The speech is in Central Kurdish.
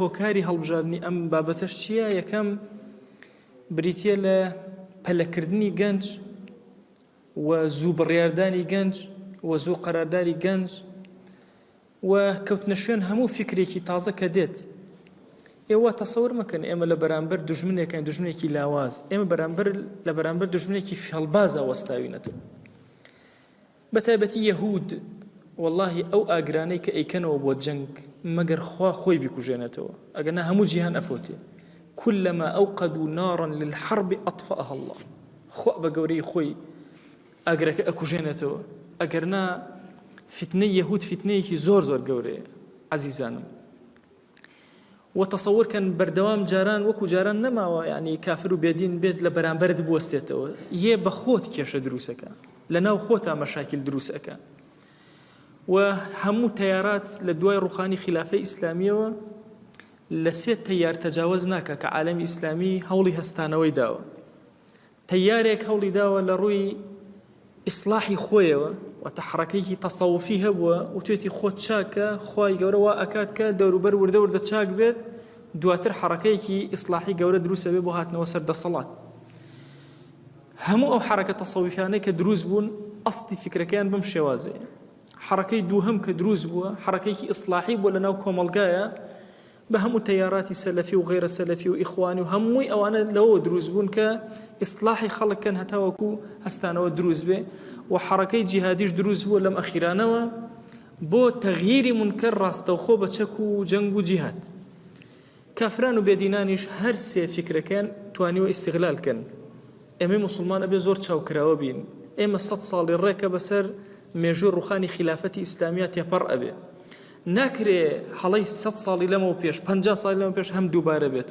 هۆکاری هەڵبژاردنی ئەم بابەتەش چییە؟ یەکەم، بریتییە لە پەلەکردنی گەنج و زوو بڕیاردانی گەنج و زوو قەرارداری گەنج و کەوتنە شوێن هەموو فکرێکی تازە کە دێت ئێوە تەسەور مەکەن ئێمە لە بەرامبەر دژمنێکەکەین دژمنێکی لاواز ئێمە بەرامبەر لە بەرامبەر دژمنێکی فێڵبازە وەستاوینەتە بەتایبەتی یەهود وەڵاهی ئەو ئاگرانەی کە ئەیکەنەوە بۆ جەنگ مەگەر خوا خۆی بیکوژێنێتەوە ئەگەنا هەموو جیهان ئەفەوتێ کلما اوقدو نارا للحرب اطفاها اللە خوا بە گەورەی خۆی ئاگرەکە ئەکوژێنێتەوە ئەگەرنا فیتنەی یەهود فیتنەیەکی زۆر زۆر گەورەیە عەزیزانم. وە تەسەور کەن بەردەوام جاران وەکو جاران نەماوە یانی کافر و بێدین بێت لە بەرامبەرت بوەستێتەوە یێ بە خۆت کێشە دروست ئەکا لە ناو خۆتا مەشاکیل دروست ئەکا و هەموو تەیارات لە دوای ڕوخانی خلافەی ئیسلامیەوە لە سێ تەیار تەجاوز ناکە کە عالەمی ئیسلامی هەوڵی هەستانەوەی داوە تەیارێک هەوڵی داوە لە ڕووی ئیسڵاحی خۆیەوە واتە حڕەکەیەکی تەسەوفی هەبووە وتێتی خۆت چاکە خوای گەورە وا ئەکات کە دەوروبەر وردە وردە چاک بێت دواتر حڕەکەیەکی ئیسلاحی گەورە دروستە بێ بۆ هاتنەوە سەر دەسەڵات هەموو ئەو حرەکە تەسەویفانەی کە دروست بوون ئەستی فکرەکەیان بم شێوازێ حرەکەی دووهم کە دروست بووە حرەکەیکی ئیسلاحی بۆ لە ناو کۆمەلگایە بە هەموو تەیاراتی سەلەفی و غەیرە سەلەفی و ئیخوانی و هەمووی ئەوانە لەوەوە دروست بوون کە ئیسلاحی خەڵک کەن هەتاوەکو هەستانەوە دروست بێ و حەڕەکەی جیهادیش دروست بووە لەم ئەخیرانەوە بۆ تەغییری منکەر ڕاستەوخۆ بە چەک و جەنگ و جیهاد کافران و بێدینانیش هەر سێ فکرەکەن توانیوە ئیستغلال کەن ئێمە مسلمان ئەبێ زۆر چاوکراوە بین ئێمە سە ساڵی ڕێکە بەسەر مێژوی ڕوخانی خلافەتی ئیسلامیە تێپەڕ ئەبێ ناکرێ هەڵەی سەد ساڵی لەمەو پێش، پەنجا ساڵی لەمەو پێش هەم دووبارە بێت.